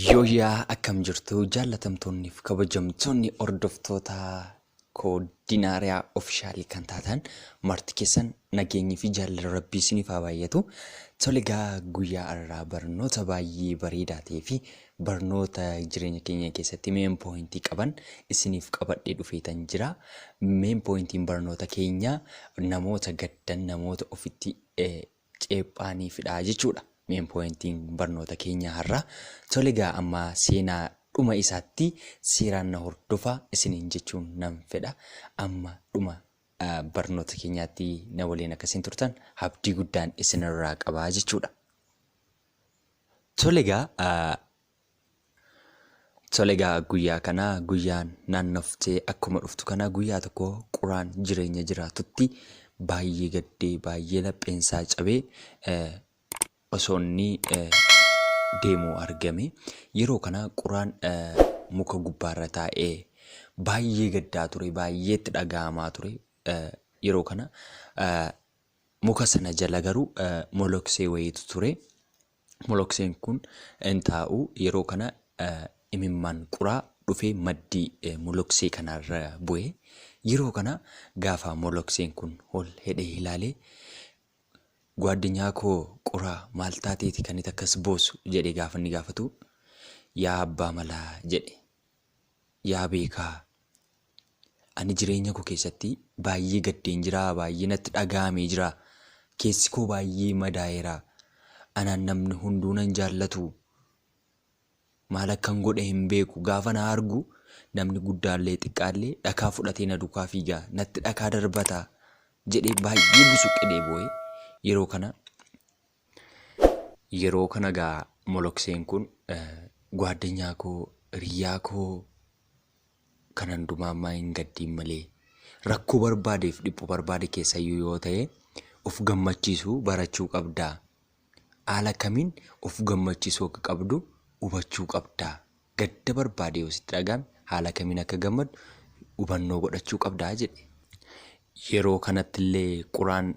Yooyyaa akkam jirtu jaallatamtoonniif kabajamtoonni hordoftoota Coordinaria Official kan taatan marti keessan nageenyi fi jaalala rabbii isiniif haa baay'atu. Tole egaa guyyaa arraa barnoota baay'ee bareedaa ta'ee fi barnoota jireenya keenya keessatti main point qaban isiniif qabadhee dhufeetan jira. Main pointiin barnoota keenya namoota gaddan namoota ofitti ceephaaniifidha jechuudha main pointing barnoota keenyaa har'aa. Tole egaa amma seenaa dhuma isaatti seeraan na hordofaa isiniin jechuun nan fedha. Amma dhuma barnoota keenyaatti na waliin akka isin turtan abdii guddaan isinirraa qaba jechuudha. Tole egaa Tole egaa guyyaa kana guyyaan naannoftee akkuma dhuftu kana guyyaa tokko quraan jireenya jiraatutti baay'ee gaddee baay'ee lapheensaa cabee eh, osoo inni eh, deemuu argame yeroo kana quraan eh, muka gubbaarra taa'ee baay'ee gaddaa ture baay'ee itti dhaga'amaa ture eh, yeroo kana eh, muka sana jala garuu eh, moloksee wayiitu ture. Molokseen kun in taa'u. Yeroo kana imimmaan quraa dhufee maddii moloksee kanaa irra bu'e. Yeroo kana gaafa molokseen kun ol hedhee ilaale Gwaaddenyaa koo quraa maal taateeti kan itti akkas boosu jedhee gaafa inni gaafatu yaa abbaa malaa jedhe. Yaa beekaa! Ani jireenya koo keessatti baay'ee gaddeen jira, baay'ee natti dhaga'amee jira. Keessi koo baay'ee madaa'eera. Anaan namni hunduu nan jaallatu. Maal akkan godhe hin beeku. Gaafa na argu namni guddaallee xiqqaallee dhakaa fudhatee na dukaa fiiga. Natti dhakaa darbata jedhee baay'ee busuqqedhee boo'e. Yeroo kana Yeroo kana gaa molokseen kun Gwaaddenyaa koo, hiriyyaa koo kan handumaa ammaa hin gaddiin malee rakkoo barbaadeef dhiphu barbaade keessayyuu yoo ta'e of gammachiisuu barachuu qabdaa. Haala kamiin of gammachiisuu akka qabdu hubachuu qabdaa gadda barbaade yoo sitti dhaga'ame haala kamiin akka gammaddu hubannoo godhachuu qabdaa jedhe. Yeroo kanatti illee Quraan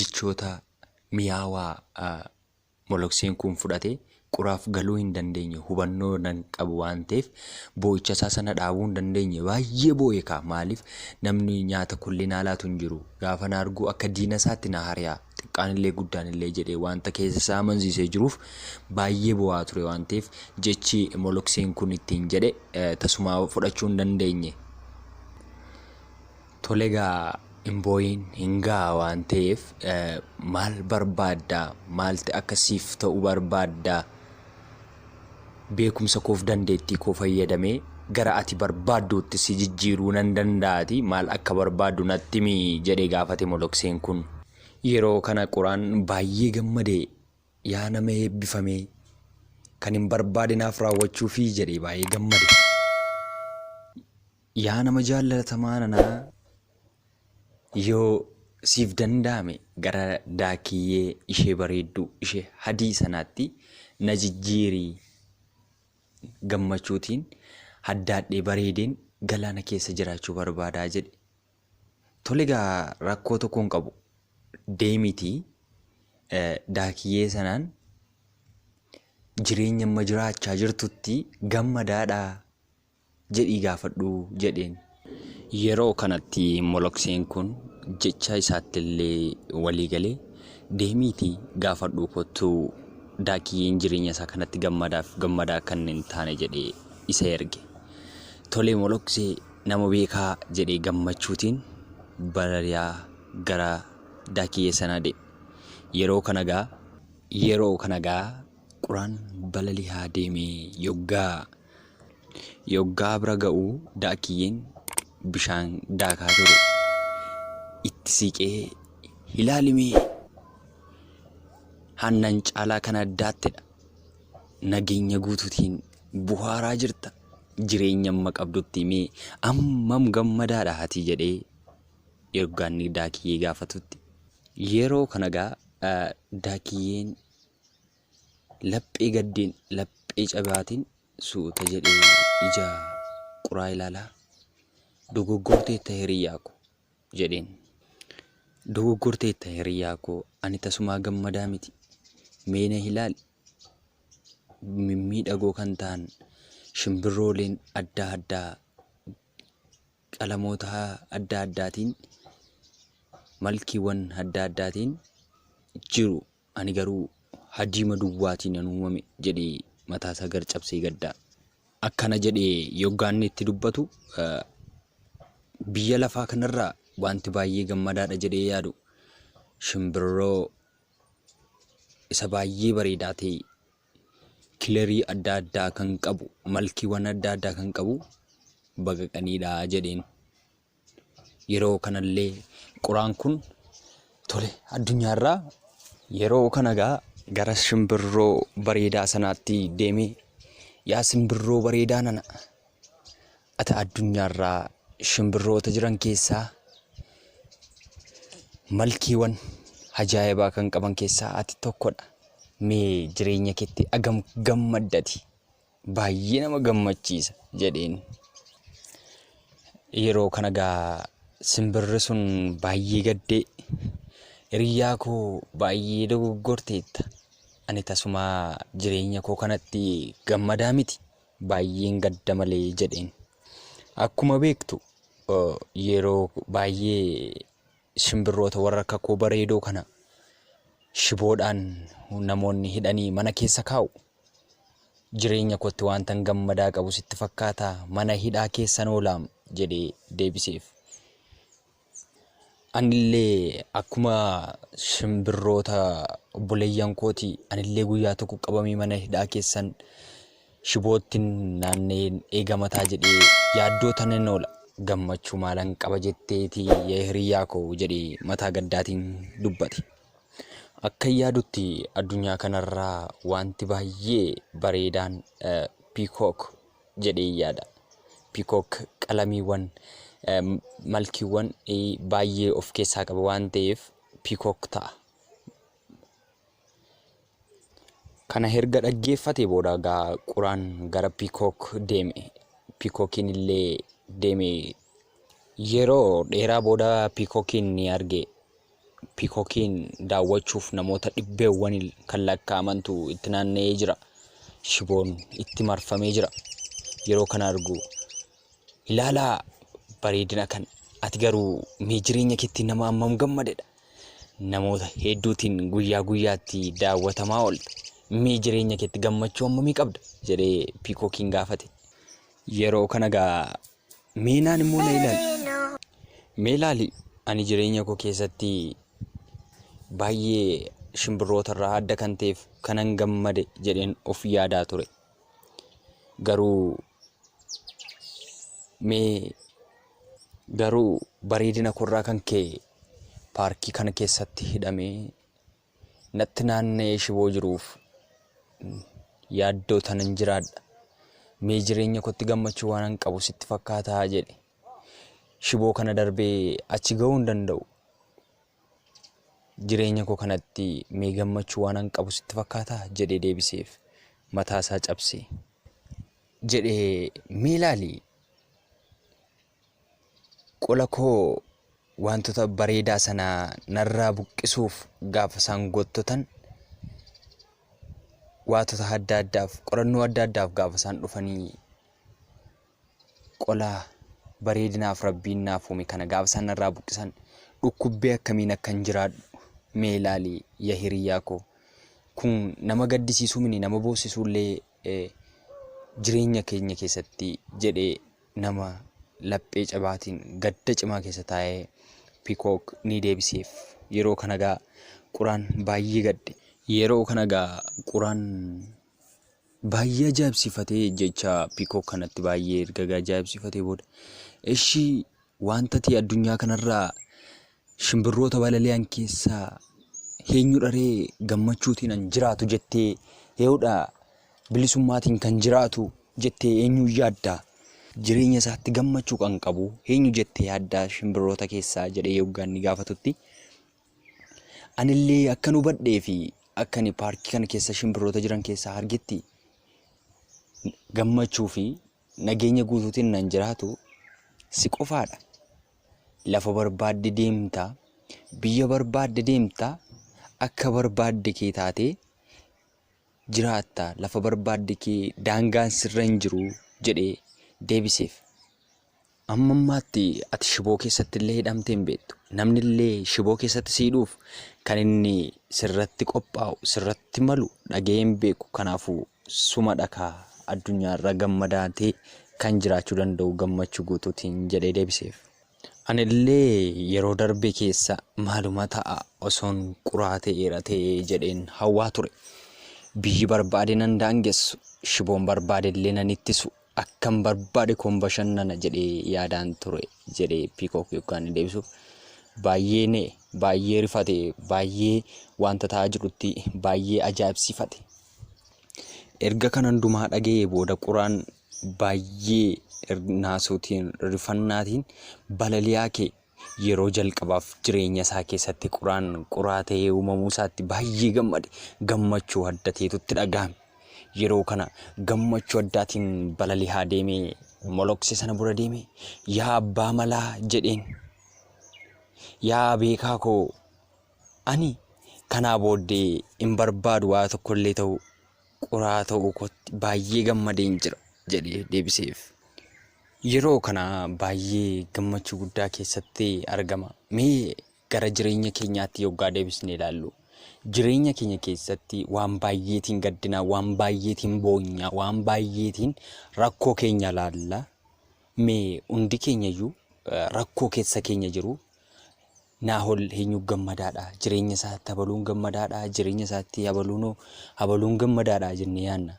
jechoota miyaawaa molokseen kun fudhate Quraaf galuu hin dandeenye hubannoo nan qabu waan ta'eef boo'icha isaa sana dhaabuu hin dandeenye baay'ee boo'e kaa maaliif namni nyaata kulli naa laatu hin jiru gaafa na arguu akka diina isaatti na hari'a xiqqaan illee guddaan illee jedhee wanta keessa isaa amansiisee jiruuf Baay'ee boo'aa ture waan ta'eef jechi molokseen kun ittiin jedhe tasumaa fudhachuu hin dandeenye. Tole gaa hin boo'iin hin ga'a waan ta'eef maal barbaadda maalti akka siif ta'u barbaadda beekumsa koof dandeettii koo fayyadamee gara ati barbaadduutti si jijjiiruu nan danda'ati maal akka barbaaddu natti himi jedhee gaafate molokseen kun. Yeroo kana quraan baay'ee gammade Yaa nama eebbifame! Kanin barbaade naaf raawwachuufi jedhee baay'ee gammade. Yaa nama jaallatamaa nanaa yoo siif danda'ame gara daakiyyee ishee bareedduu ishee hadii sanaatti na jijjiiri gammachuutiin haddaadhee bareedeen galaana keessa jiraachuu barbaadaa jedhe. Tole egaa rakkoo tokko hin qabu. Deemiti daakiyyee sanaan jireenya amma jiraachaa jirtutti gammadaadha jedhii gaafadhu jedheen. Yeroo kanatti molokseen kun jecha isaattillee walii gale deemiiti gaafadhuu kottu daakiyyeen jireenya isaa kanatti gammadaaf gammadaa akka inni hin taane jedhee isa erge. Tole moloksee. Nama beekaa jedhee gammachuutiin balali'aa gara daakiyyee sanaa deeme. Yeroo kana gaa. Yeroo kana gaa quraan balali'aa deemee yoggaa yoggaa bira ga'u daakiyyeen bishaan daakaa ture itti siiqee ilaalimee hannan caalaa kana daattedha nageenya guutuutiin buhaaraa jirta. jireenya amma qabdutti himee ammam gammadaadha ati jedhee ergaa inni daakiyyee gaafatutti yeroo kana gaa eh, daakiyyeen laphee gaddeen laphee cabaatiin suuta jedhee ija quraa ilaalaa dogoggorteetta hiriyyaa ko jedheen dogoggorteetta hiriyyaa koo ani tasumaa gammadaa miti meena hilaali mimmiidhagoo kan ta'an shimbirrooleen adda addaa qalamoota adda addaatiin malkiiwwan adda addaatiin jiru. Ani garuu hadiima duwwaatiin nan uumame jedhee mataasaa gar cabsee gadda. Akkana jedhee yoggaa inni itti dubbatu biyya lafaa kanarraa wanti baay'ee gammadaadha jedhee yaadu shimbirroo isa baay'ee bareedaa ta'e kilarii adda addaa kan qabu malkiiwwan adda addaa kan qabu baqaqaniidha jedheen. Yeroo kanallee quraan kun tole addunyaarraa yeroo kana gaa gara shimbirroo bareedaa sanaatti deemee yaa simbirroo bareedaa nana Ati addunyaarraa shimbirroota jiran keessaa malkiiwan ajaa'ibaa kan qaban keessaa ati tokkodha. Mee jireenya keetti agam gammaddati baay'ee nama gammachiisa jedheen. Yeroo kana gaa simbirri sun baay'ee gaddee hiriyaa koo baay'ee dogoggorteetta. Ani tasumaa jireenya koo kanatti gammadaa miti. baay'een gadda malee jedheen. Akkuma beektu yeroo baay'ee shimbirroota warra akka koo bareedoo kana shiboodhaan namoonni hidhanii mana keessa kaa'u. Jireenya kootti wantan gammadaa qabu sitti fakkaata mana hidhaa keessan oolaam jedhee deebiseef. Anillee akkuma shimbirroota obboleeyyan kooti anillee guyyaa tokko qabamee mana hidhaa keessan shiboottin naanna'een eegama ta'a jedhee yaaddoo tanan oola. Gammachuu maalan qaba jetteeti yaa hiriyyaa koo jedhee mataa gaddaatiin dubbate. Akka yaadutti addunyaa kanarraa wanti baay'ee bareedaan piikook jedheen yaada. Pikook qalamiiwwan malkiiwwan baay'ee of keessaa qaba waan ta'eef pikook ta'a. Kana erga dhaggeeffate booda gaa quraan gara pikook deeme. Pikookiin illee deeme. Yeroo dheeraa booda pikookiin ni arge. Piikokiin daawwachuuf namoota dhibbeewwaniin kan lakkaa'amantu itti naanna'ee jira. Shiboon itti marfamee jira. Yeroo kana argu ilaalaa bareedina kan ati garuu mee jireenya keetti nama hammam gammadedha. Namoota hedduutiin guyyaa guyyaatti daawwatamaa oolta. Mee jireenya keetti gammachuu hammamii qabda? jedhee piikokiin gaafate. Yeroo kana gaa Meenaan immoo na ilaali. Mee ilaali ani jireenya koo keessatti baay'ee shimbirroota irraa adda kan ta'eef kanan gammade jedheen of yaadaa ture. Garuu mee garuu bareedina koo irraa kan ka'e paarkii kana keessatti hidhamee Natti naanna'ee shiboo jiruuf yaaddoo tanan jiraadha. Mee jireenya kootti gammachuu waanan qabu sitti fakkaataa jedhe. Shiboo kana darbee achi ga'uu hin danda'u. Jireenya koo kanatti mee gammachuu waanan qabu sitti fakkaataa jedhee deebiseef. Mataasaa cabse. Jedhee mee ilaali. Qola koo waantota bareedaa sana narraa buqqisuuf gaafa isaan gottotan waatota adda addaaf qorannoo adda addaaf gaafa isaan dhufanii qola bareedinaaf rabbiin naaf uume kana gaafa isaan narraa buqqisan dhukkubbee akkamiin akkan jiraadhu mee ilaali ya hiriyyaa koo kun nama gaddisiisuu mini nama boossisuullee jireenya keenya keessatti jedhee nama laphee cabaatiin gadda cimaa keessa taa'ee Pikook ni deebiseef. Yeroo kana gaa Quraan baay'ee gadde. Yeroo kana gaa Quraan baay'ee ajaa'ibsiifatee jecha Pikook kanatti baay'ee erga ajaa'ibsiifatee booda eshi waanta ati addunyaa kanarraa Shimbirroota balali'an keessaa heenyudha ree gammachuutiin an jiraatu jettee hee'udha bilisummaatiin kan jiraatu jettee eenyuun yaadda? Jireenya isaatti gammachuu kan qabu eenyu jettee yaadda shimbirroota keessaa jedhee yoggaa inni gaafatutti anillee akkan hubadhee fi akka ani paarkii kana keessa shimbirroota jiran keessaa argetti gammachuu fi Nageenya guutuutiin nan jiraatu, si qofaadha. Lafa barbaadde deemta, biyya barbaadde deemta, akka barbaadde kee taatee jiraatta, lafa barbaadde kee daangaan sirra hin jiru jedhee deebiseef. Amma ammaatti ati shiboo keessatti illee hidhamtee hin beektu. Namni illee shiboo keessatti si hidhuuf kan inni sirratti qophaa'u, sirratti malu dhaga'ee hin beeku. Kanaafuu suma dhakaa addunyaa irra gammadaatee kan jiraachuu danda'u gammachuu guutuutiin jedhee deebiseef. Ani illee yeroo darbe keessa maaluma ta'a osoon quraa ta'eera ta'ee jedheen hawwaa ture. Biyyi barbaade nan daangessu, shiboon barbaade illee nan ittisu, Akkan barbaade koon bashannana jedhee yaadaan ture jedhe Piikook Yukkaanni deebisuuf. Baay'ee na'e, baay'ee rifate, baay'ee wanta ta'aa jirutti baay'ee ajaa'ibsiifate. Erga kan hundumaa dhaga'ee booda quraan baay'ee naasuutiin, rifannaatiin balali'aa ka'e. Yeroo jalqabaaf jireenya isaa keessatti quraan quraa ta'ee uumamuu isaatti baay'ee gammade. Gammachuu adda ta'etu itti dhagahame. Yeroo kana gammachuu addaatiin balali'aa deemee molokse sana bura deeme. Yaa abbaa malaa jedheen. Yaa beekaa koo ani kanaa booddee hin barbaadu waa tokkollee ta'u. Quraa ta'uu kootti baay'ee gammadeen jira jedhee deebiseef. Yeroo kana baay'ee gammachuu guddaa keessatti argama. Mee gara jireenya keenyaatti yoggaa deebisnee ilaallu. Jireenya keenya keessatti waan baay'eetiin gaddina, waan baay'eetiin boonya, waan baay'eetiin rakkoo keenya ilaalla. Mee hundi keenyayyuu eh, rakkoo keessa keenya jiru. Naahol heenyuuf gammadaadha? Jireenya isaatti habaluun gammadaadha? Jireenya isaatti habaluunoo habaluun gammadaadha jennee yaanna.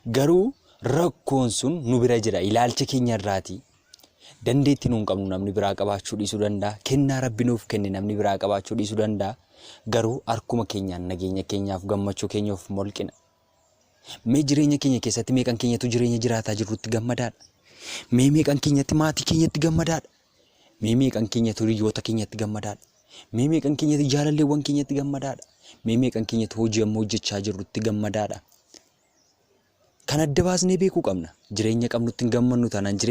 Garuu rakkoon sun nu bira jira. Ilaalcha keenya irraati. Dandeetti nuun qabnu namni biraa qabaachuu dhiisuu danda'a. Kennaa rabbi nuuf kenne namni biraa qabaachuu dhiisuu danda'a. Garuu harkuma keenyaan nageenya keenyaaf gammachuu keenya of molqina. Mee jireenya keenya keessatti meeqan keenyatu jireenya jiraataa jirrutti gammadaadha? Mee meeqan keenyatti maatii keenyatti gammadaadha? Mee meeqan keenyatu hiriyoota keenyatti gammadaadha? Mee meeqan keenyatti jaalalleewwan keenyatti gammadaadha? Mee meeqan keenyatti hojii amma hojjechaa jirrutti gammadaadha? Kan adda baasnee beekuu qabna. Jireenya qabnutti hin gammannu taanaan jireenya